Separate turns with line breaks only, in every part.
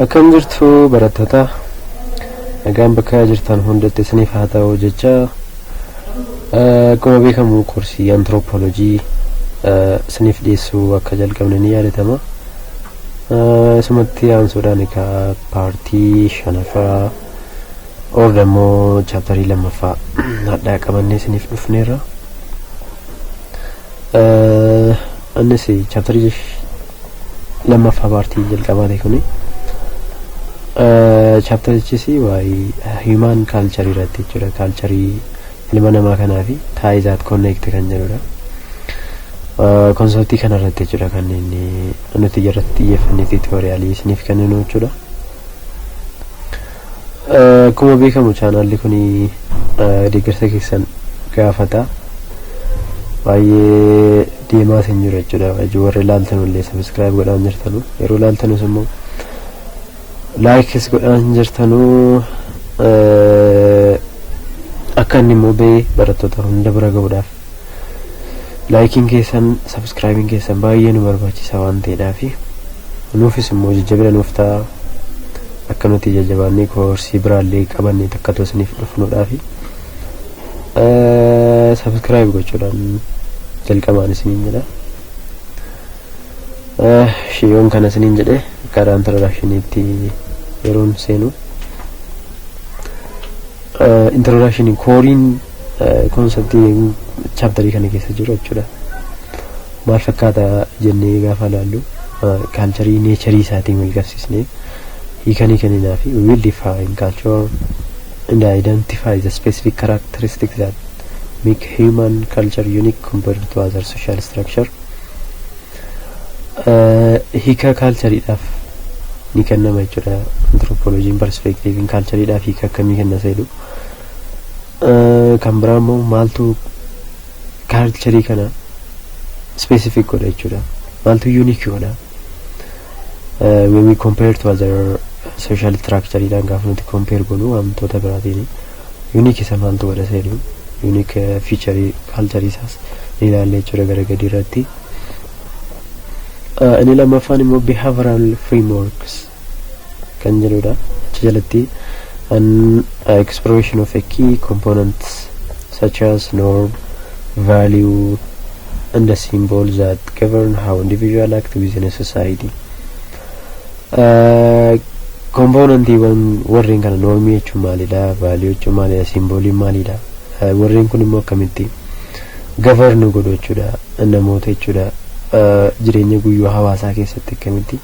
Akkam jirtu barattoota nagaan bakka jirtan hundatti isiniif haa ta'u jecha akkuma beekamu koorsii antiroopoolojii isiniif dhiyeessuu akka jalqabne ni yaadatama. Isumatti aansuudhaan egaa paartii shanaffaa or immoo chaaptarii lammaffaa hadhaa qabannee isiniif dhufneerra. Annis chaaptarii lammaffaa paartii jalqabaati kuni chaaptarichis waa'ee hiimaan kaalcharii irratti jechuudha kaalcharii ilma namaa kanaa fi taayizaat konneekti kan jedhudha konseptii kana irratti jechuudha kan inni nuti irratti xiyyeeffannee tiitooriyaalii isiniif kenninu jechuudha akkuma beekamu chaanaalli kun deeggarsa keessan gaafata baay'ee deemaas hin jiru jechuudha ijoo warri laaltanullee subscribe godhaa hin jirtanu yeroo laaltanus immoo likes godhaa hin jirtanu akka inni immoo ba'ee barattoota hunda bira ga'uudhaaf laayikiin keessan sabskraayibiin keessan baay'ee nu barbaachisa waan ta'eedhaaf nuufis immoo jajjabina nuuf ta'a akka nuti jajjabaannee koorsii biraallee qabannee takkatoo isiniif dhufnuudhaafi. subscribe gochuudhaan jalqabaan isiniin jedha shiyoon kana isiniin jedhe karaa introductioniitti yeroon seenu introduction kooriin konseptii chaaptarii kana keessa jiru jechuudha maal fakkaata jennee gaafa ilaallu kaalcharii neecharii isaatiin wal qabsiisnee hiikanii kenninaa fi we will define culture and identify the specific characteristics that make human culture unique compared to other social structure Eh, hiika kaalchariidhaaf ni kennama jechuudha anthropologiin perspektiiviin kaalchariidhaaf hiika akkamii kenna seedhu Eh, kan biraa immoo maaltu kaalcharii kana specific godha jechuudha maaltu unique godha when we compare to other social structure dhaan gaafa nuti compare gonu wantoota biraatiin unique isa maaltu godha isa jedhu unique feature culture isaas ni ilaalla jechuudha gara gadii irratti inni lammaffaan immoo behavioral frameworks kan jedhudha achi jalatti an uh, exploration of a key components such as norm value and the symbol that govern how individual act within a society. Kompoonantiiwwan warreen kana noormii jechuun maalidha? Vaaliyuu jechuun maalidha? Simbooliin maalidha? Warreen kun immoo akkamitti gavarnu godhu jechuudha namoota jechuudha jireenya guyyuu hawaasaa keessatti akkamitti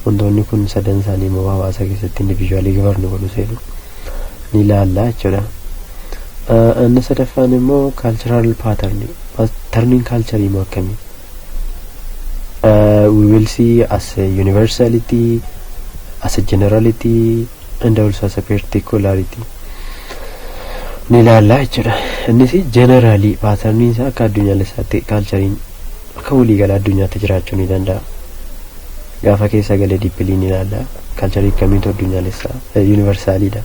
Wantoonni kun sadan isaanii immoo hawaasa keessatti individually govern godhu seenu ni ilaalla jechuudha. Ah, Inni sadaffaan immoo cultural pattern. Pattern'n culture immoo akkami? Uh, we will see as a universality, as a generality, and also as a particularity. Ni ilaalla jechuudha. Innis generally pattern'n isaa akka addunyaalessaatti culture'n Akka waliigala addunyaatti jiraachuu ni danda'a. Gaafa keessa galee dippilii ni ilaalla. Kalcharii akkamiitu addunyaalessa yuunivarsaaliidha.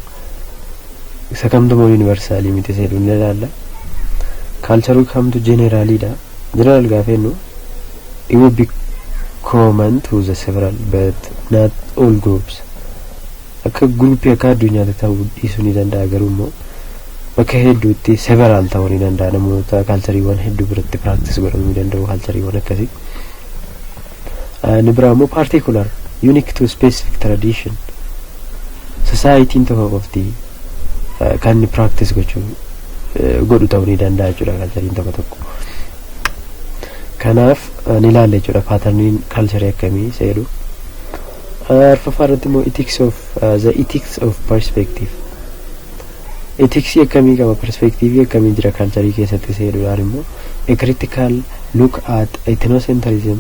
Isa kamtu immoo yuunivarsaalii miti isa jedhu ni ilaalla. Kalcharuu kamtu jeneeraaliidha. Jeneraal gaafa jennu it will be common to the several but not all groups. akka group akka addunyaatti ta'uu dhiisuu ni danda'a garuu immoo bakka hedduutti several ta'uu ni danda'a namoota kaalchariiwwan hedduu biratti practice godhamuu ni danda'u kaalchariiwwan akkasii inni biraa immoo particular unique to specific tradition society'n tokko qofti kan inni practice gochuu godhu ta'uu ni danda'a jechuudha kaalchariin tokko tokko kanaaf ni ilaalla jechuudha paatarniin kaalcharii akkamii seedhu Arfaffaa irratti immoo ethics of the ethics of perspective etiksii akkamii qaba perspektiivii akkamii jira kaalcharii keessatti isa jedhudhaan immoo a critical look at ethnocentrism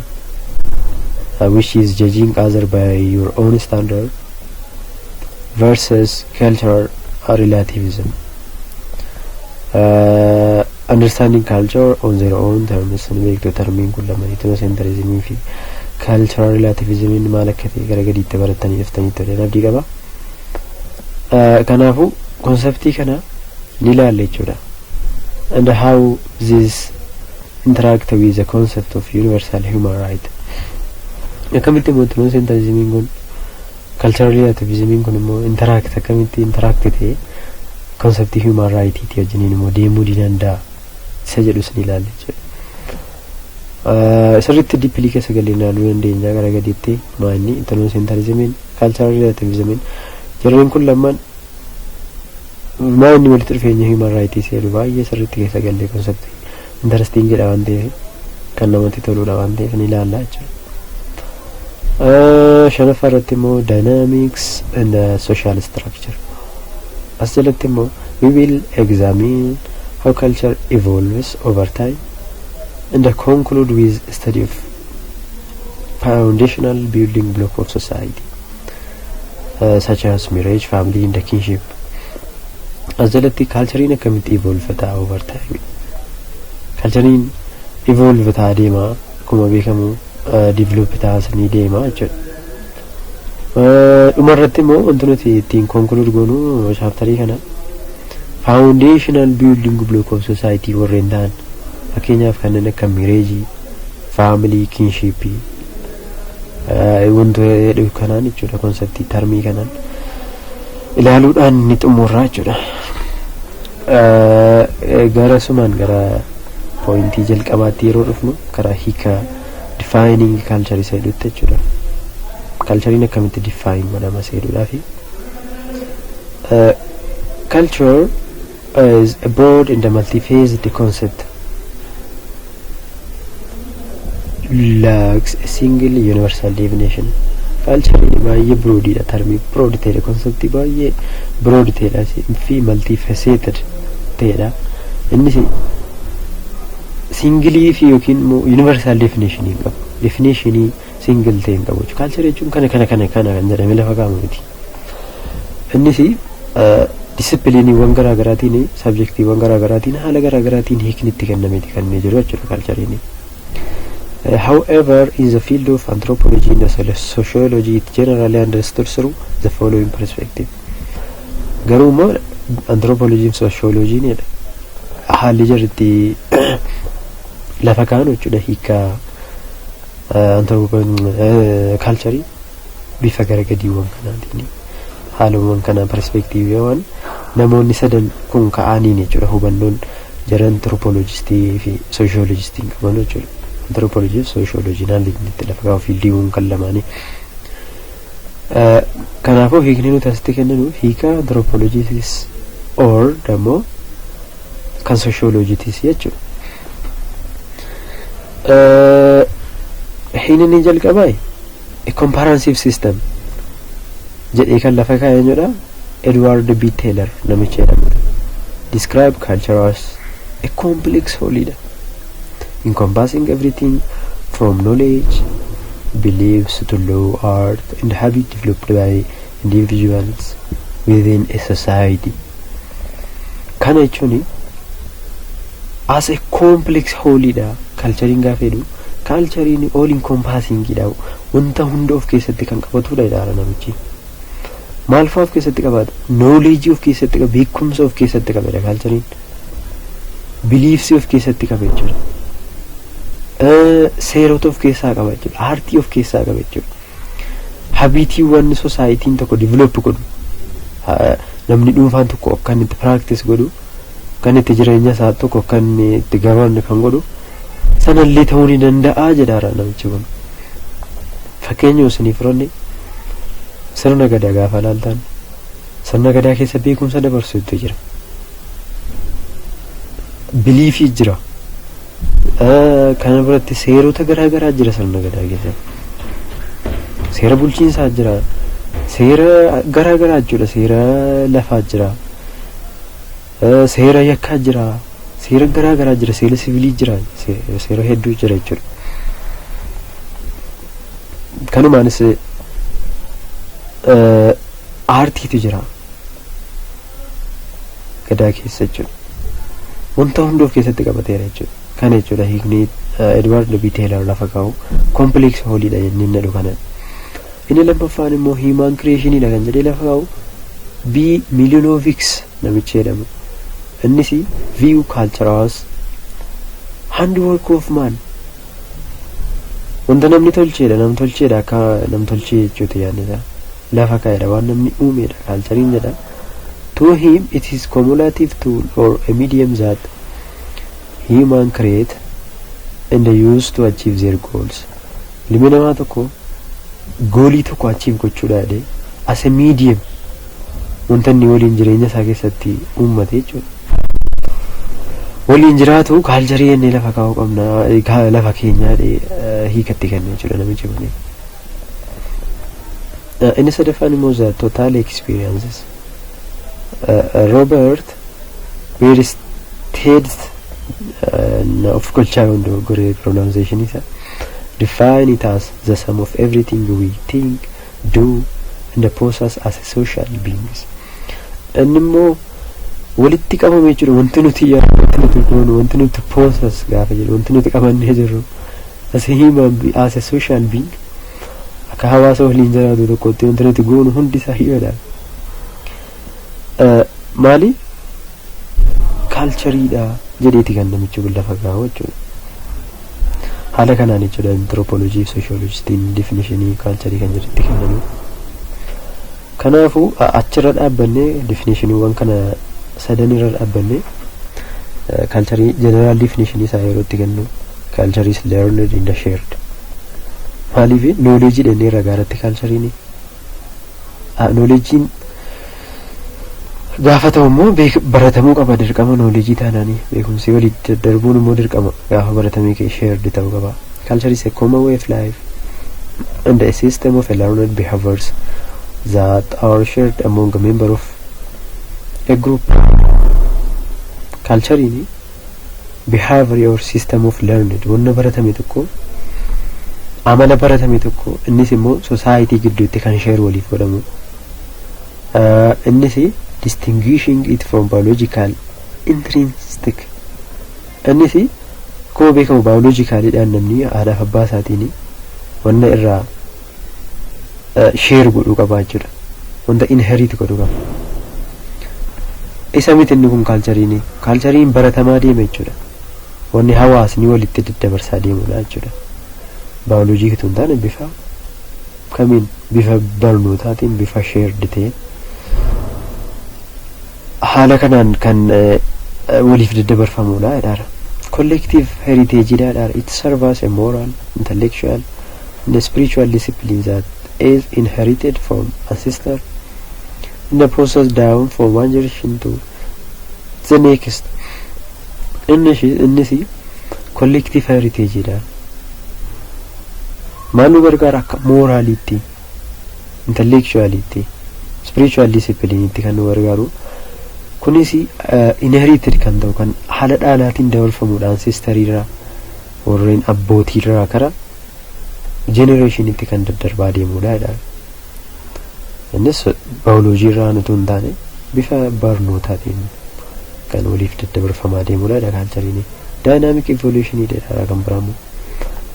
uh, which is judging other by your own standard versus cultural relativism uh, Understanding culture on their own terms ni beektu termiin kun lama ethnocentrism fi cultural relativism maal akka ta'e gara gadiitti barattanii dhuftanii toleen abdii qaba. Kanaafuu konseptii kana ni ilaalle jechuudha. And how this interact with the concept of universal human right. Akkamitti immoo ethnocentrism kun Culturally activism'n kun immoo interact akkamitti interact ta'e concept human right ti wajjiniin immoo deemuu ni danda'a isa jedhus ni ilaalla jechuudha. Eh, Sirriitti deeply keessa galee ilaaluu dandeenya gara gadiitti maanni ethnocentrism'n cultural relativism'n jarreen kun lamaan maanni walitti dhufeenya human rights jedhu baay'ee sirriitti keessa galee concept Interesting dha waan ta'eef kan namatti toludha waan ta'eef ni ilaalla jechuudha. Ah, Shanaffaa irratti immoo dynamics and uh, social structure. As jalatti immoo we will examine how culture evolves over time and conclude with study of foundational building block of society. uh, such as marriage, family and the kinship. As jalatti kaalchariin akkamitti evolve ta'a over time. Kaalchariin evolve ta'a deema akkuma beekamu uh, develop ta'a sanii deema jechuudha. Uh, Dhuma irratti immoo wanti nuti ittiin conclude goonu chaaptarii kana foundational building block of society warreen ta'an fakkeenyaaf kanneen akka mireejii, family, kinship, wantu jedhu kanaan jechuudha konseptii tarmii kanaan ilaaluudhaan ni xumurra jechuudha gara sumaan gara pooyintii jalqabaatti yeroo dhufnu karaa hiika difaayining kaalcharii seeduutti jechuudha kaalchariin akkamitti difaayin godhama seeduudhaa fi kaalchar is a broad and a multiphased concept lacks a single universal definition culture baay'ee broad dha termii broad ta'edha concept baay'ee broad ta'edha fi multifaceted ta'edha innis singilii fi yookiin immoo universal definition hin qabu definitionii single ta'e hin qabu culture jechuun kana kana kana kana kan jedhame lafa kaa'amu miti Innis disipiliiniiwwan garaa garaatiin sabjektiiwwan garaa garaatiin haala garaa garaatiin hiikni itti kennameeti kan inni jiru jechuudha kaalchariin. However, in the field of anthropology and sociology it generally understood through the following perspective. Garuu immoo anthropologiin sociologiin jedha. Haalli jarri itti lafa kaa'an jechuudha hiika anthropology kaalcharii bifa gara gadiiwwan kanaatiin haalawwan kanaa perspeektiiviiwwan namoonni sadan kun ka'aaniin jechuudha hubannoon jara antiropoolojistii fi sooshoolojistiin qaban jechuudha. Antiropoolojii fi sooshoolojii naan liignitti lafa kaa'u fiildiiwwan kan lamaanii. Kanaafuu hiikni nuti asitti kenninu hiika antiropoolojiitis or dammoo kan sooshoolojiitis jechuudha. Hiikni inni jalqabaa A comprehensive system jedhee kan lafa kaa'e eenyudha? Edward B. Taylor namicha jedhamudha. Describe culture as a complex whole dha. Encompassing everything from knowledge, beliefs to law, art and habit developed by individuals within a society. Kana jechuun as a complex whole dha. Kalchariin gaafa jedhu Kaalchariin all encompassing dha. Wanta hunda of keessatti kan qabatudha jedhaara namichi. Maalfaa of keessatti qabaata? Knowledge of keessatti qaba, beekumsa of keessatti qabedha kaalchariin. Beliefs of keessatti qaba jechuudha. Seerota of keessaa qaba jechuudha. Aartii of keessaa qaba jechuudha. Habiitiiwwan sosaayitiin tokko develop godhu namni dhuunfaan tokko akka inni itti practice godhu kan itti jireenya isaa tokko akka inni itti gabaabne kan godhu sanallee ta'uu ni danda'a jedhaara namichi kun. Fakkeenyuma isiniif firoonni sirna gadaa gaafa ilaaltan sirna gadaa keessa beekumsa dabarsuutu jira. Biliifii jira. Kana biratti seerota garaa garaa jira sirna gadaa keessatti. Seera bulchiinsaa jira. Seera garaa garaa jechuudha. Seera lafaa jira. Seera yakkaa jira. Seera garaa garaa jira. Seera sivilii jira. Seera hedduu jira jechuudha. Kanumaanis aartiitu jira. gadaa keessa jechuudha. Wanta hunda of keessatti qabateera jechuudha. Kana jechuudha hiikni Edward B. Taylor lafa kaa'u complex whole dha jennee nadhu kana. Inni lammaffaan immoo human creation dha kan jedhee lafa kaa'u B. Milyunovics namichi jedhamu. Innis view culture was handwork of man Wanta namni tolcheedha, namtolcheedha akka namtolchee jechuuti yaadni isaa. Lafa kaa'eedha, waan namni uumeedha kaalchariin jedha. To him it is cumulative tool or a medium that human create and use to achieve their goals. Ilmi namaa tokko goolii tokko achieve gochuudha jedhee as a medium wanta inni waliin jireenya isaa keessatti uummate jechuudha. Waliin jiraatu kaalcharii jennee lafa kaa'uu qabna ka- lafa keenyaa dhee hiikatti kenna jechuudha namichi kun. Eh, Inni sadaffaan immoo the total experiences. Eh, Robert Bierstedt eh, na of gochaa yoon dogoggore pronunciation isa define it as the sum of everything we think, do and pose us as a social beings dhanni immoo walitti qabame jechuudha wanti nuti yaadu wanti nuti goonu wanti nuti pose us gaafa jedhu wanti nuti qabannee jirru as a human be- as a social being akka hawaasa waliin jiraatu tokkotti wanti nuti goonu hundi isaa himadha maali kaalchariidha jedheeti kan namichi kun lafa gaa'u jechuudha. Haala kanaan jechuudha antirooppooloojii fi sooshooloojistiin definishinii kaalcharii kan jedhutti kennanii. Kanaafuu achirra dhaabbannee definishiniiwwan kana sadan irra dhaabbannee kaalcharii jeneraal definishinii isaa yeroo itti kennu kaalcharii is learned in the shared. Maaliif nooleejii dhennee ragaa irratti kaalchariin Nooleejiin gaafa ta'u immoo baratamuu qaba dirqama nooleejii taanaanii beekumsii walii darbuun immoo dirqama gaafa baratamee kee shared ta'uu qaba. Culture is a common way of life and a system of learned behaviors that are shared among a member of a group. Culture'n behavior or system of learned wanna baratame tokko amala baratame tokko innis immoo society gidduutti kan share waliif godhamu uh, innis distinguishing it from biological intrinsic innis akkuma beekamu biologicalidhaan namni haadhaaf abbaa isaatiin wanna irraa share godhuu qaba jechuudha wanta inherit godhu qaba isa miti inni kun kaalchariin kaalchariin baratamaa deema jechuudha wanni hawaasni walitti daddabarsaa deemudha jechuudha baayoloojii kitoo hin taane bifa kamiin bifa barnootaatiin bifa sheerdi ta'een Haala kanaan kan waliif daddabarfamuudha jedhaara. Collective heritage dha jedhaara. It serve as a moral, intellectual, and spiritual discipline that is inherited from ancestor in the process down from one generation to the next. Innis collective heritage dha. Maal nu gargaara akka mooraaliitti? intellectualitti spiritual discipline itti kan nu gargaaru kunis inherited kan ta'u kan haala dhaalaatiin dabarfamuudhaan sistariirraa warreen abbootiirraa kara jenereeshinitti kan daddarbaa deemudha jedhaan. Innis baayoloojii irraa utuu hin taane bifa barnootaatiin kan waliif daddabarfamaa deemudha jedha kaalchariin. Daayinaamik evoluushinii jedha kan biraammoo.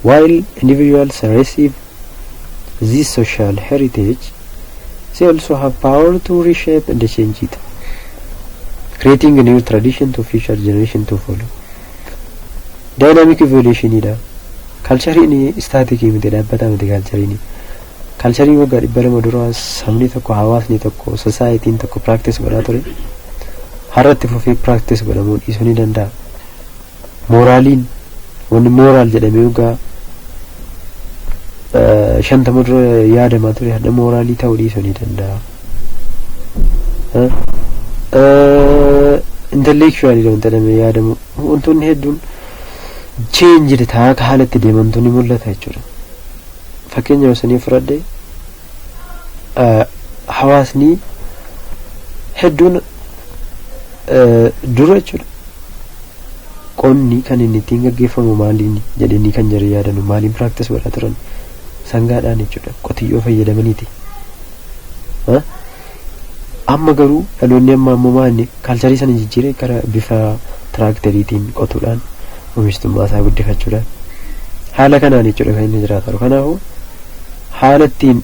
While individuals receive This social heritage they also have power to reshape and change it, creating new tradition to future generation to follow. Dynamic evolution dha. Kalchariin istaatikii miti dhaabbataa miti kalchariin. Kalcharii waggaa dhibba lama dura sabni tokko hawaasni tokko sosaayitiin tokko practice godhaa ture. Har'atti fufee practice godhamuu dhiisuu ni danda'a. Mooraaliin wanni mooraal jedhamee ogaa shantama dura yaadamaa ture hadha mooraalii ta'uu dhiisuu ni danda'a. Intellectualidha wanta jedhamee yaadamu wantoonni hedduun cheenjid ta'aa akka haala itti deemantu ni mul'ata jechuudha. Fakkeenya osanii fudhadhe hawaasni hedduun dura jechuudha qonni kan inni ittiin gaggeeffamu maaliin jedhanii kan jari yaadanu maaliin piraaktis godhaa turan sangaadhaan jechuudha qotiyyoo fayyadamaniiti. Amma garuu dhaloonni amma ammoo maanni kaalcharii sana jijjiiree gara bifa tiraakteriitiin qotuudhaan oomishtummaa isaa guddifachuudhaan haala kanaan jechuudha kan inni jiraatu. Kanaafuu haala ittiin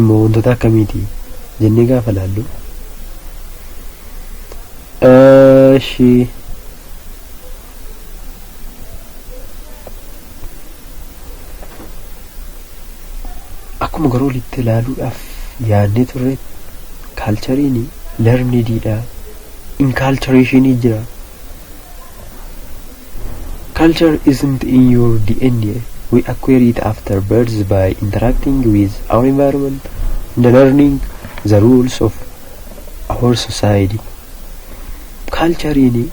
immoo wantoota akkamiiti jennee gaafa laallu Eshi. Akkuma garuu olitti ilaaluudhaaf yaadnee turre kaalchariin lernidiidha. Inkaalchareeshinii jira. Culture isn't in your DNA, we acquire it after birth by interacting with our environment and learning the rules of our society. Culture'n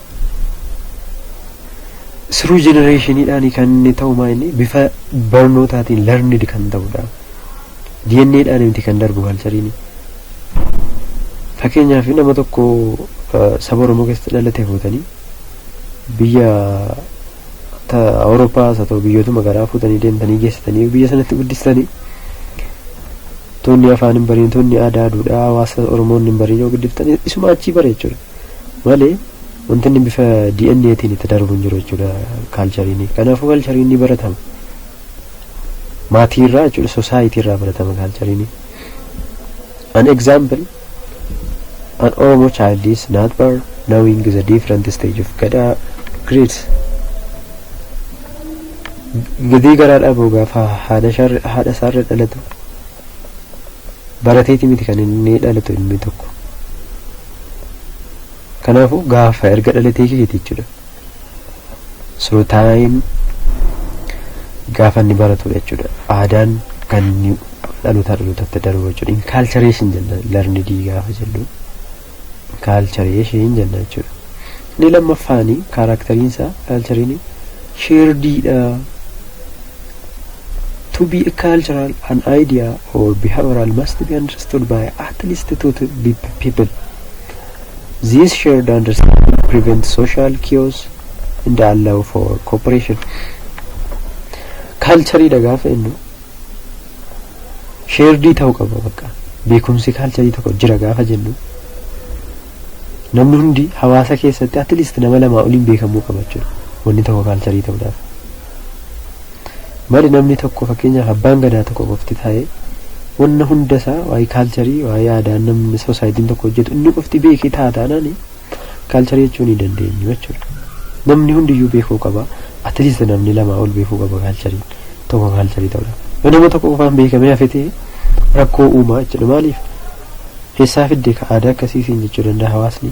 through generationidhaan kan inni ta'u maa inni bifa barnootaatiin learned kan ta'udha. DNAdhaan miti kan darbu culture'n. Fakkeenyaaf nama tokko saba Oromoo keessatti dhalate fuutanii biyya ta Awurooppaas haa ta'u biyyootuma garaa fuutanii deemtanii geessitanii biyya sanatti guddistanii toonni afaan hin bariin toonni aadaa duudhaa hawaasa Oromoon hin bariin yoo guddiftanii isuma achii bara jechuudha. Malee wanti inni bifa DNA tiin itti darbu hin jiru jechuudha kaalchariin. Kanaafuu kaalchariin ni baratama. Maatii irraa jechuudha sosaayitii irraa baratama kaalchariin. An example An Oromo child is not bar knowing the different stage of Gada grades. Gadii garaa dhabuu gaafa haadha sharri- haadha isaarra dhalatu barateeti miti kan inni dhalatu ilmi tokko. Kanaafuu gaafa erga dhalatee keeti jechuudha. So time gaafa inni baratudha jechuudha. Aadaan kan inni dhalootaa dhalootatti darbu jechuudha. Inculturation jenna learned gaafa jennu. Inculturation jenna jechuudha. Inni lammaffaani kaaraakteriin isaa kaalchariin sheerdiidha. To be a cultural an idea or behavioral must be understood by at least two to be people. This shared understanding prevents social chaos and allow for cooperation. Kaalcharii dha gaafa jennu sheerdii ta'uu qaba bakka beekumsi kaalcharii tokko jira gaafa jennu namni hundi hawaasa keessatti at least nama lamaa oliin beekamuu qaba jechuudha wanni tokko kaalcharii ta'uudhaaf Mali namni tokko fakkeenyaaf abbaan gadaa tokko qofti taa'ee wanna hunda isaa waa'ee kaalcharii waa'ee aadaa namni soosaayitiin tokko hojjetu inni qofti beekee ta'a taanaan kaalcharii jechuu ni dandeenyu jechuudha. Namni hundiyyuu beekuu qaba. Atleast namni lamaa ol beekuu qaba kaalchariin tokko kaalcharii ta'udha. Yoo nama tokko qofaan beekamee hafe ta'e rakkoo uumaa jechuudha. Maaliif? Eessaa fidde ka aadaa akkasii siin jechuu danda'a hawaasni.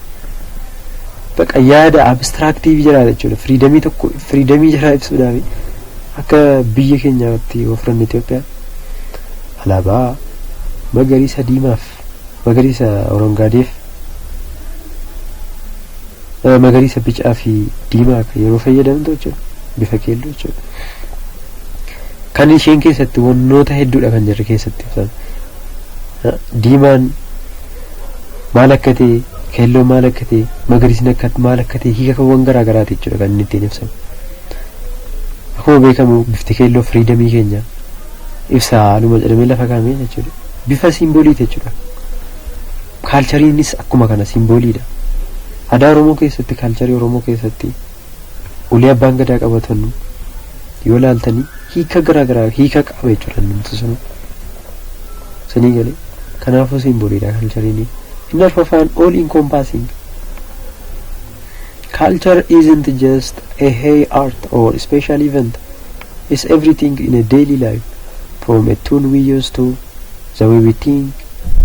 baqa yaada abstraaktii fi jiraata jechuudha. Firiidamii tokko firiidamii jiraa ibsuudhaaf akka biyya keenyaatti yoo fudhanne Itoophiyaa alaabaa magariisa diimaaf magariisa orongaadeef eh, magariisa bicaa fi diimaa kan yeroo fayyadamtu jechuudha bifa keelloo jechuudha. Kan isheen keessatti wantoota hedduudha kan jirri keessatti ibsan. Eh, Diimaan maal akka ta'e, keelloon maal akka ta'e, magariisni akka maal akka ta'e hiikakawwan garaa garaati jechuudha kan inni ittiin ibsamu. Akkuma beekamu bifti keelloo firiidamii keenya ibsa haaluma jedhamee lafa kaa'amee jechuudha. Bifa siimbooliiti jechuudha. Kaalchariinis akkuma kana siimbooliidha. Aadaa Oromoo keessatti kaalcharii Oromoo keessatti ulee abbaan gadaa qabatanu yoo laaltanii hiika garaa garaa hiika qaba jechuudha namti sunu sanii galee kanaafuu simboliidha kaalchariin inni arfafaan all encompassing culture isn't just a hay art or special event it's everything in a daily life from a tune we use to the way we think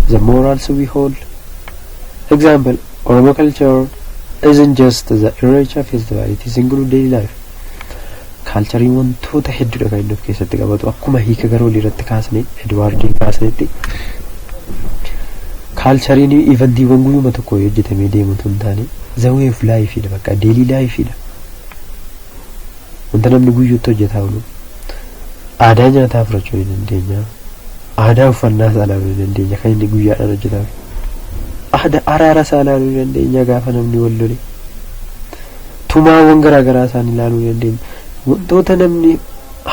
the morals we hold Example, Oromo culture isn't just the Irreecha festival, it is include daily life. Kaalchariin wantoota hedduudha kan inni of keessatti qabatu. Akkuma hiika gara olii irratti kaasne, Edwaardiin kaasnetti kaalchariin ivantiiwwan guyyuma tokko hojjetamee deemu tun taane the way of life dha bakka daily life dha. Wanta namni guyyuutti hojjetaa oolu aadaa nyaataa fudhachuu ni dandeenya. Aadaa uffannaa isaa ilaaluu ni dandeenya kan inni guyyaadhaan hojjetame. Aadaa araara isaa ilaaluu ni dandeenya gaafa namni wal lole. Tumaawwan garaa garaa isaan ilaaluu ni dandeenya. Wantoota namni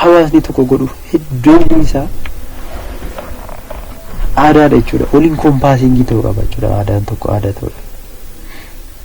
hawaasni tokko godhu hedduun isaa aadaadha jechuudha. Waliin kompaasiingii ta'uu qaba jechuudha aadaan tokko aadaa ta'uudha.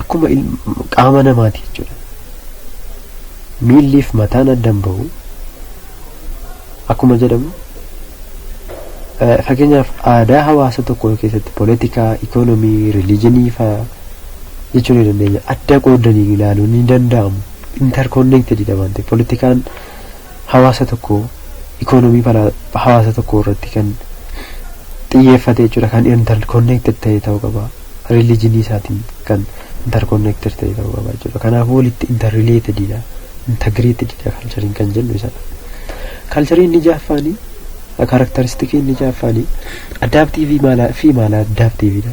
akkuma qaama namaati jechuudha. Miilliif mataan addan bahu akkuma jedhamu fakkeenyaaf aadaa hawaasa tokkoo keessatti poolitikaa, ikoonomii, rilijinii fa'aa jechuu ni dandeenya. Adda qoodanii ilaaluun ni danda'amu. Interconnected dha waan ta'eef poolitikaan hawaasa tokkoo economy balaa hawaasa tokkoo irratti kan xiyyeeffate jechuudha kan interconnected ta'e ta'uu qaba religion isaatiin kan interconnected ta'e ta'uu qaba jechuudha kanaaf walitti interrelated dha integrated dha kalchariin kan jennu isadha kalcharii inni jaaffaanii karakteristikii inni jaaffaanii adaptiivii maalaa fi maalaa adaptiiviidha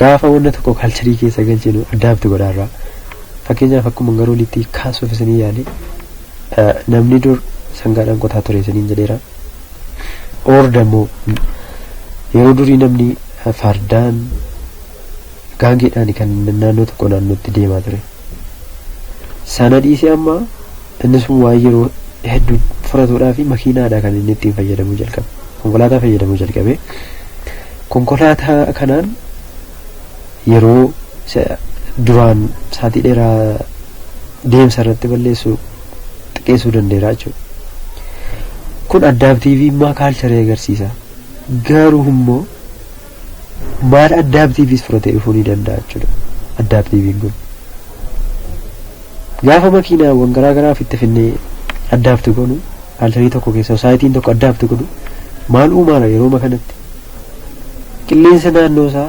Gaafa wanna tokko culture keessa galchinu adapt godha irraa. Fakkeenyaaf akkuma gara olitti kaasuuf isinii yaale namni dur sangaadhaan qotaa ture isiniin jedheera. Orda immoo yeroo durii namni fardaan gaangeedhaan kan naannoo tokko naannootti deemaa ture. Sana dhiisee amma Inni sun waan yeroo heddu furatuudhaafi makiinaadha kan inni ittiin fayyadamuu jalqabe. Konkolaataa fayyadamuu jalqabe. Konkolaataa kanaan yeroo isa duraan saatii dheeraa deemsa irratti balleessu xiqqeessuu danda'eera jechuudha. Kun addaabtiiviimmaa kaalcharii agarsiisa. Garuu immoo Maal addaaptiiviis fira ta'e dhufuu ni danda'a jechuudha. Addaaptiiviin kun gaafa makiinaawwan garaa garaa ofitti finnee addaapti godhu kaalcharii tokko keessa saayitiin tokko addaapti godhu maal uumaara yeroo kanatti qilleensa naannoo isaa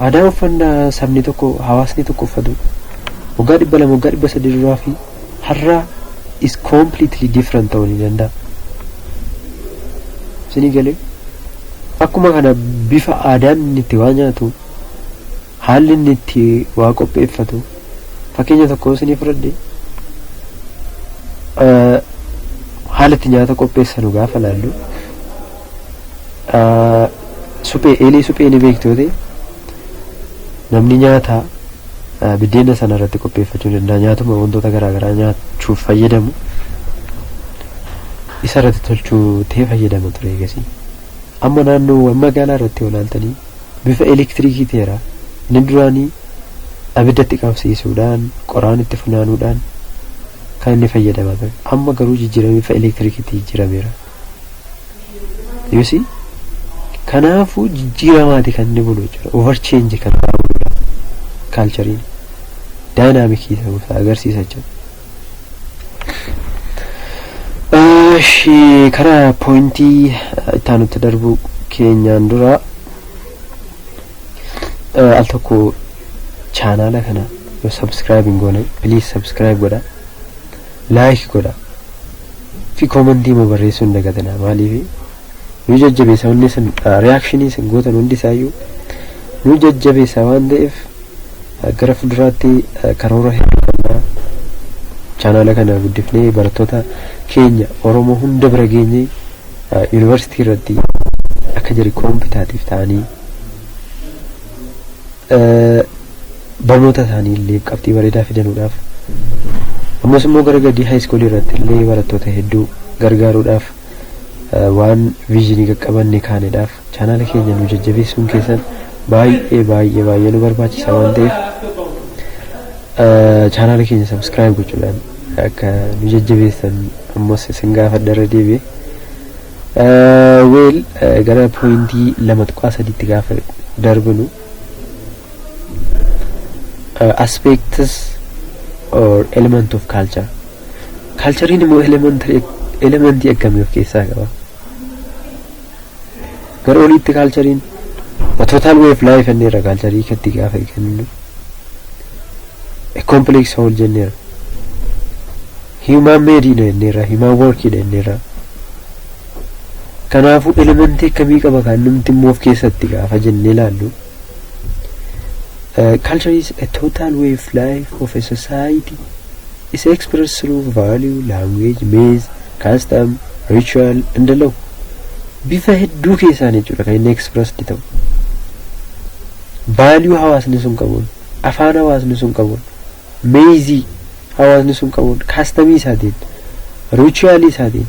Aadaa uffannaa sabni tokko, hawaasni tokko uffatu waggaa 200, waggaa 300 duraa fi har'a is completely different ta'uu ni danda'a. Isinii galee? Akkuma kana bifa aadaan inni itti waa nyaatu, haalli inni itti waa qopheeffatu, fakkeenya tokko isinii fudhadhe haala itti nyaata qopheessanu gaafa laallu Suphee eelee suphee ni beektu yoo ta'e namni nyaata biddeena sana irratti qopheeffachuu danda'a nyaatuma wantoota garaagaraa nyaachuuf fayyadamu isa irratti tolchuu ta'ee fayyadama ture eegasii. Amma naannoowwan magaalaa irratti yoo ilaaltanii bifa elektiriikii ta'eera inni duraanii abiddatti qabsiisuudhaan qoraan itti funaanuudhaan kan inni fayyadamaa ture amma garuu jijjiiramee bifa elektiriikiitti jijjiirameera. You see? Kanaafuu jijjiiramaati kan inni bulu jechuudha. Over change kan irraa buludha. Kaalchariin daayinaamikii ta'uu isaa agarsiisa jechuudha. Eshi kara pointii itti aanutti darbuu keenyaan dura eh, al tokko chaanaala kana yoo subscribe hin goone please subscribe godha. like godha fi comment immoo barreessuu hin dagatinaa maaliif nu jajjabeessa wanni isin reaction isin gootan hundi isaayyuu nu jajjabeessa waan ta'eef eh, gara fuulduraatti eh, karoora hedduu qabna chaanaala kana guddifnee barattoota keenya oromoo hunda bira geenye yuunivarsiitii irratti akka jari koompitaatiif ta'anii barnoota isaanii illee qabxii bareedaa fidanuudhaaf ammas immoo gara gadii haayiskuulii irratti illee barattoota hedduu gargaaruudhaaf waan viizinii qaqqabanne kaanedhaaf chaanaala keenya nu jajjabeessuun keessan baay'ee baay'ee baay'ee nu barbaachisa waan ta'eef chaanaala keenya sabskiraayib gochuudhaan akka nu jajjabeessan ammas isin gaafadha irra deebi'e Weel gara pooyintii lama tuqaa sadiitti gaafa darbinu aspects or element of culture kaalchariin immoo elementii akkamii of keessaa qaba gara oliitti kaalchariin total way of life jenneerra kaalcharii katti gaafa kennu complex whole jenneerra human made dha jenneerra human work dha jenneerra kanaafuu elementii akkamii qaba kan numti immoo of keessatti gaafa jennee ilaallu Uh, culture is a total way of life of a society. It's expressed through value, language, means, custom, ritual, and the law. Bifa hedduu keessaan jechuudha kan inni expressed ta'u. Value hawaasni sun qabuun, afaan hawaasni sun qabuun, meeyzii hawaasni sun qabuun, kastamii isaatiin, riichuaalii isaatiin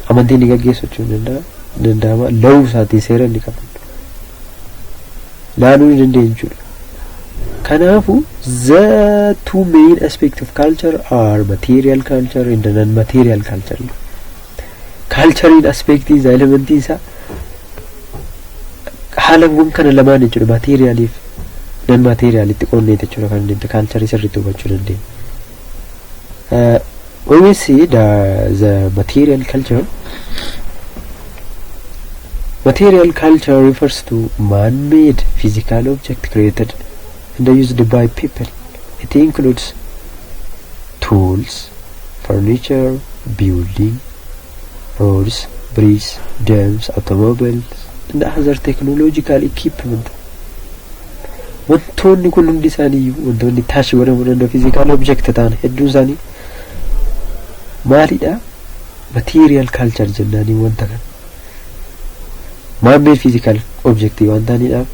amantii inni gaggeessu jechuun ni danda'a- ni danda'ama. Lawuu isaatiin seera inni qabu laaluu ni dandeenya jechuudha. Kanaafu the two main aspect of culture are material culture and non-material culture. kaalchariin aspeektii isaa elementii isaa haalawwan kana lamaan jechuudha maateeriyaaliif nan maateeriyaalitti qoonneeti jechuudha kan inni kaalcharii sirriitti hubachuu dandeenya. Uh, when we see the, the material culture, material culture refers to man-made physical object created and used by people. It includes tools, furniture, building, roads, bridges, dams, automobiles, and other technological equipment. Wantoonni kun hundi isaanii wantoonni taash godhamuu danda'u physical object ta'an hedduun isaanii maalidha? Material culture jennaanii wanta kana. maanmeed fiizikaal objektii waan ta'aniidhaaf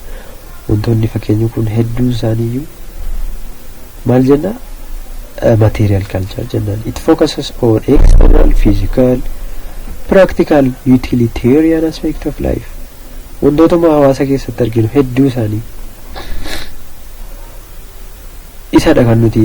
wantoonni fakkeenyi kun hedduun isaaniiyyuu maal jenna material culture jennaan it focuses on external physical practical utilitarian aspect of life wantootuma hawaasa keessatti arginu hedduu isaanii isadha kan nuti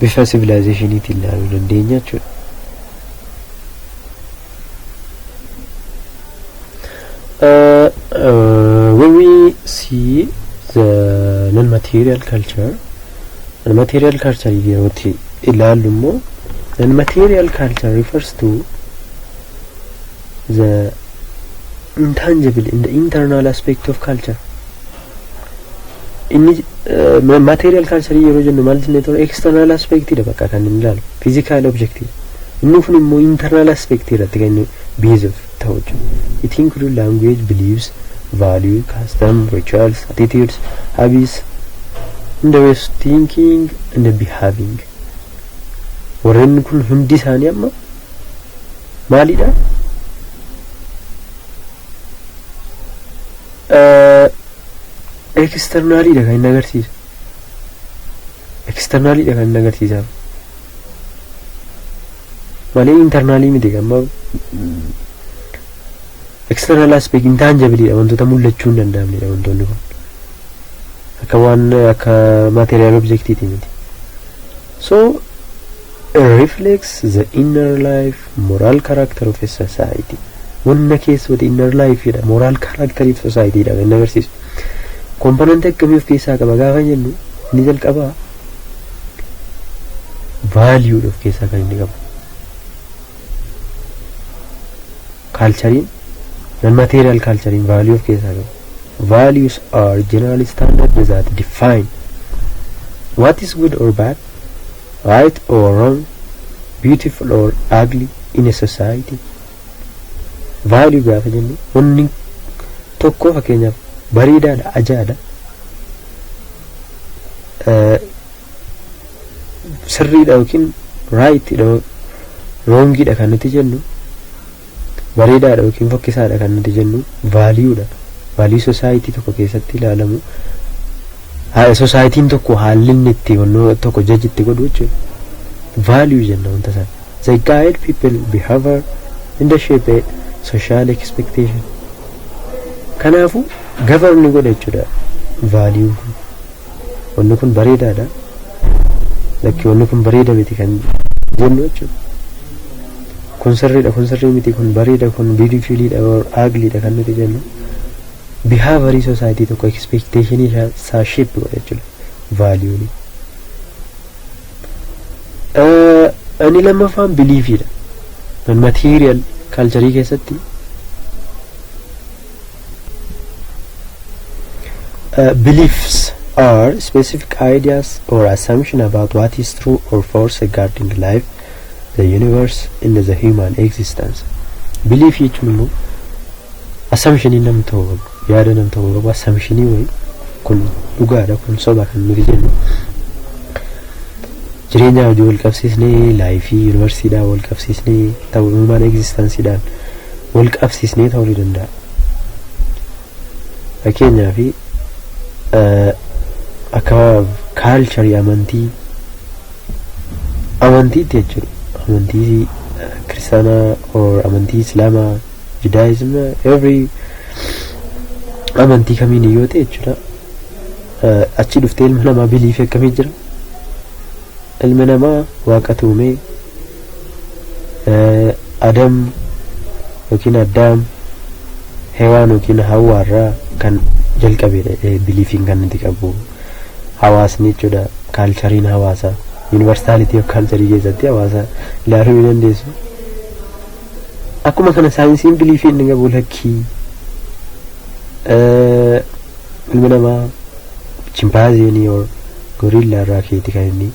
bifa sivilaayizeeshiniitiin ilaaluu dandeenya jechuudha. Uh, uh, when we see the non-material culture, non-material culture yerootti ilaallu immoo non-material culture refers to the intangible and the internal aspect of culture Inni material cancer yeroo jennu maal jennee ture external aspect dha bakka kan inni ilaalu physical object inni kun immoo internal aspect irratti kan inni based ta'u jechuudha. It include language, beliefs, value, custom, rituals, attitudes, habits, and the ways of thinking and the behaving. Warreen kun hundi isaanii amma maalidha? Ekisternaalidha kan inni agarsiisu. Ekisternaalidha kan inni agarsiisaa. Malee internaalii miti amma external aspect intangibilidha wantoota mul'achuu hin danda'amnedha wantoonni kun. Akka waan akka material objectiti miti. So it reflects the inner life Moral character of a society. Wanna keessooti inner life jedha. Moral character of society jedha kan inni agarsiisu. Komponantii akkamii of keessaa qaba gaafa jennu inni jalqabaa value of keessaa kan inni qabu. Kaalchariin nan material kaalchariin value of keessaa qabu. Values are general standard that define what is good or bad Right or wrong, beautiful or ugly in a society. Value gaafa jennu wanni tokko fakkeenyaaf bareedaadha, ajaa'aadha. Eh, Sirriidha yookiin raayitidha, roongiidha kan nuti jennu bareedaadha yookiin fokkisaadha kan nuti jennu vaaliyuudha. Vaaliyuu sosaayitii tokko keessatti ilaalamu sosaayitiin tokko haalli inni itti wannoo tokko jaji itti godhu jechuudha. Vaaliyuu jenna wanta sana. They guide people behavior in the shape a social expectation. Kanaafuu govern godha jechuudha vaaliyuun kun. wanni kun bareedaadha lakki wanni kun bareeda miti kan jennu jechuudha kun sirriidha kun sirrii miti kun bareeda kun biidifiiliidha aagliidha kan nuti jennu bihaabarii soosaayitii tokko ekspeekteeshinii isaa sheep godha jechuudha vaaliyuuni inni lammaffaan biliifiidha kan material kaalcharii keessatti Uh, beliefs are specific ideas or assumption about what is true or false regarding life, the universe, and the human existence. Belief jechuun immoo assumptionii nam ta'uu qabu, yaada nam ta'uu qabu, assumptionii wayii kun dhugaadha, kun soba kan nuti jennu. Jireenyaa hojii wal qabsiisnee, laayifii, yuunivarsiidhaan wal qabsiisnee, ta'uu human existenceidhaan wal qabsiisnee ta'uu ni danda'a. Fakkeenyaaf akka kaalcharii amantii amantiitti jechuudha. Amantii kiristaanaa or amantii islaamaa judaayizim every amantii kamiin yoo ta'e jechuudha. Achi dhuftee ilma namaa biliifii akkamii jira? Ilma namaa waaqatu uumee Adam yookiin Addaam Hewaan yookiin Hawwaa irraa kan jalqabeedha jedhee biliifiin kan nuti qabu hawaasni jechuudha kaalchariin hawaasaa yuunivarsaalitii of kaalcharii keessatti hawaasa ilaaluu ni dandeessu. Akkuma kana saayinsiin biliifiin ni qabu lakkii ilmi namaa chimpaazeenii gorillaa irraa keeti kan inni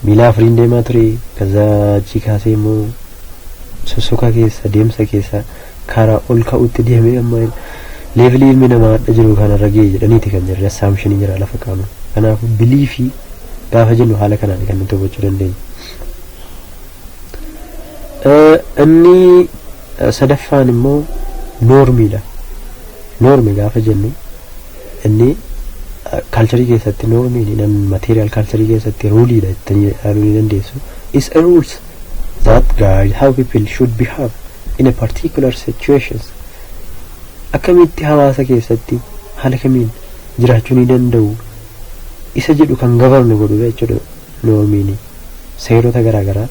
miila afuriin deemaa ture kazaa achii kaasee immoo sossoka keessa deemsa keessa karaa ol ka'utti deemee amma leevilii ilmi namaa hadha jiru kanarra ga'e jedhaniiti kan jirre assaamshinii jira lafa qaama kanaafuu bilii fi gaafa jennu haala kanaan kan nuti hubachuu dandeenyu. Inni sadaffaan immoo noormiidha. Noormi gaafa jennu Inni kaalcharii keessatti noormiin nan material kaalcharii keessatti ruuliidha jettanii ilaaluu ni dandeessu. Is a rules that guide how people should behave in a particular situations. Akkamitti hawaasa keessatti haala kamiin jiraachuu ni danda'u isa jedhu kan govern godhudha jechuudha. Loomini seerota garaa garaa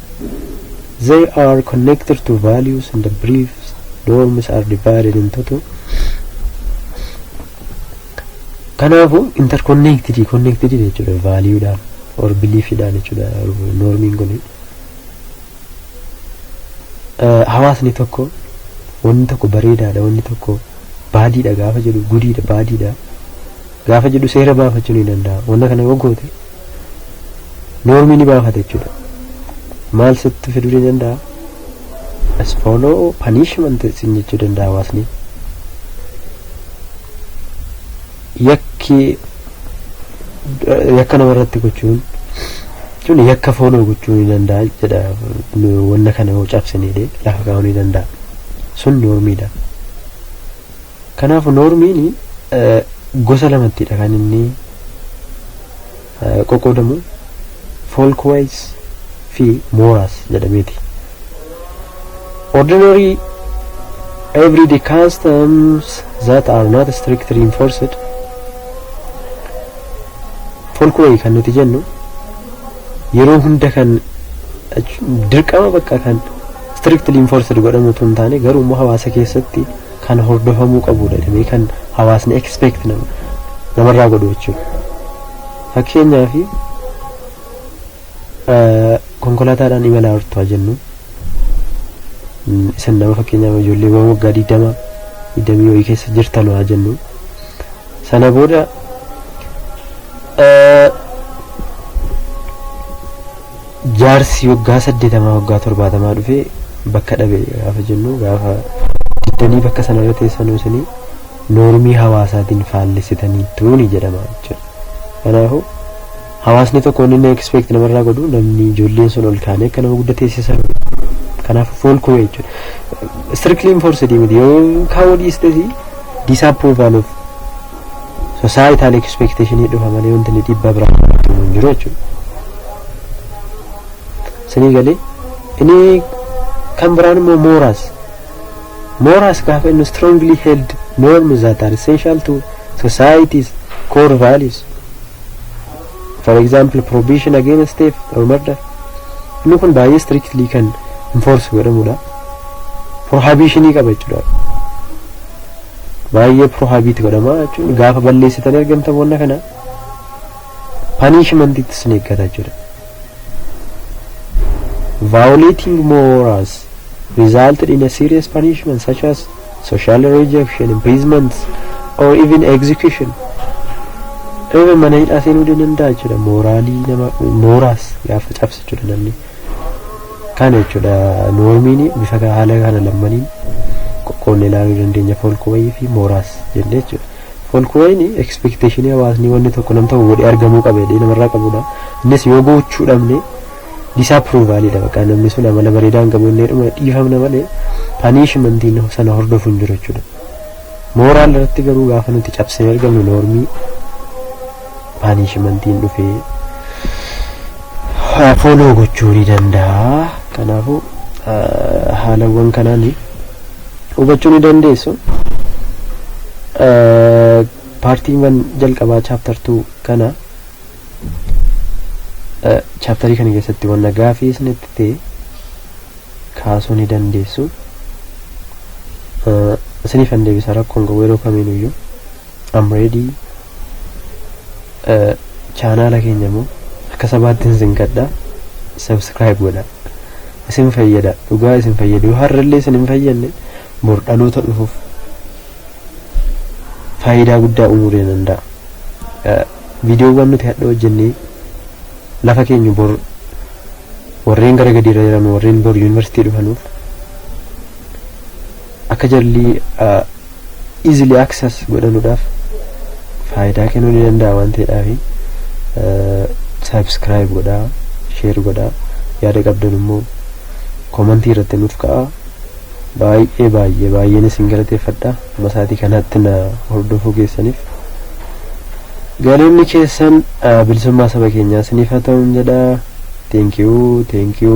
They are connected to values and the beliefs norms are divided into two Kanaafu interconnected connected jechuudha value dhaan or belief dhaan jechuudha normiin kun hawaasni tokko wanni tokko bareedaadha wanni tokko baadiidha gaafa jedhu gudiidha baadiidha gaafa jedhu seera baafachu ni danda'a wanna kana yoo goote noormii ni baafata jechuudha maal sitti fiduu ni danda'a as follow punishment sin jechuu danda'a hawaasni yakki yakka nama irratti gochuun jechuun yakka fooloo gochuu ni danda'a jedha wanna kana yoo cabsine lafa kaa'uu ni danda'a sun noormiidha Kanaafu noormiin gosa lamattidha kan inni qoqqoodamu folkways fi mooraas jedhameeti. Ordinary everyday customs that are not strictly enforced folkway kan nuti jennu yeroo hunda kan dirqama bakka kan strictly enforced godhamu tun taane garuu immoo hawaasa keessatti kan hordofamuu qabuudha jedhamee kan hawaasni expect nama namarraa godhu jechuudha. Fakkeenyaaf eh, konkolaataadhaan imalaa jirtu haa jennu Mm, isin nama fakkeenyaaf ijoolleewwan waggaa 20 20 wayii keessa jirtan haa jennu sana booda eh, Jaarsi waggaa saddeetamaa waggaa torbaatamaa dhufee bakka dhabe gaafa jennu gaafa diddanii bakka sanarra teessanuu isinii noormii hawaasaatiin faallessitaniittuuni jedhama jechuudha. Kanaafuu hawaasni tokko inni inni expect namarraa godhu namni ijoolleen sun ol kaanee akka nama guddaa teessisan kanaaf fool kuwee jechuudha. Strictly enforced miti yoo kaawoo dhiistesi disapproval of Societal expectation dhufa malee wanti inni dhiibbaa biraa irratti uumu hin jiru jechuudha. Isinii galee inni kan biraan immoo mooraas. Mooraas gaafa inni strongly held norms that are essential to society's core values. For example, prohibition against theft or murder. Inni kun baay'ee strictly kan enforce godhamudha. Prohibitionii qaba jechuudha. Baay'ee prohibit godhama jechuun gaafa balleessitanii argamtan wanna kana punishment itti isin eeggata jechuudha. Violating morals resulted in a serious punishment such as social rejection, imprisonment or even execution. Even mana hidhaa seenuu ni danda'a jechuudha. Mooraalii nama mooraas gaafa cabse jechuudha namni. Kana jechuudha noormiin bifa haala kana lammaniin qoqqoodne ilaaluu dandeenya foolkuwayii fi mooraas jennee jechuudha. Foolkuwayiin ekspeekteeshinii hawaasni wanni tokko nam tokko godhee argamuu qaba jedhee namarraa qabudha. Innis yoo gochuu dhabne disaapiruuvaaliidha bakka namni sun amala bareedaa hin qabu inni jedhamu dhiifamna malee paniishimantiin sana hordofu hin jiru jechuudha. Mooraal irratti garuu gaafa nuti cabsinee argamnu noormii paanishimantiin dhufee fooloo gochuu ni danda'a. Kanaafuu haalawwan kanaan hubachuu ni dandeessu. Paartiiwwan jalqabaa chaaptar 2 kana chaaptarii kana keessatti wanna gaafii isinitti ta'e kaasuu ni dandeessu. Isiniif hin deebisa rakkoon qabu yeroo kamiin iyyuu am ready chaanaala keenya immoo akka sabaatti isin kadha subscribe godha isin fayyada dhugaa isin fayyada yoo har'allee isin hin fayyadne bor dhaloota dhufuuf faayidaa guddaa uumuu danda'a. Viidiyoowwan nuti hadha hojjenne lafa keenyu bor warreen gara gadii irra jiran warreen bor yuunivarsiitii dhufanuuf akka jarri easily access godhanuudhaaf faayidaa kennuu ni danda'a waan ta'eedhaafi subscribe godhaa share godhaa yaada qabdan immoo komantii irratti nuuf ka'aa Baay'ee baay'ee baay'een isin galateeffadha ammasaatii kanaatti na hordofuu keessaniif galanni keessan bilisummaa saba keenyaa isiniif haa ta'uun jedha thank you thank you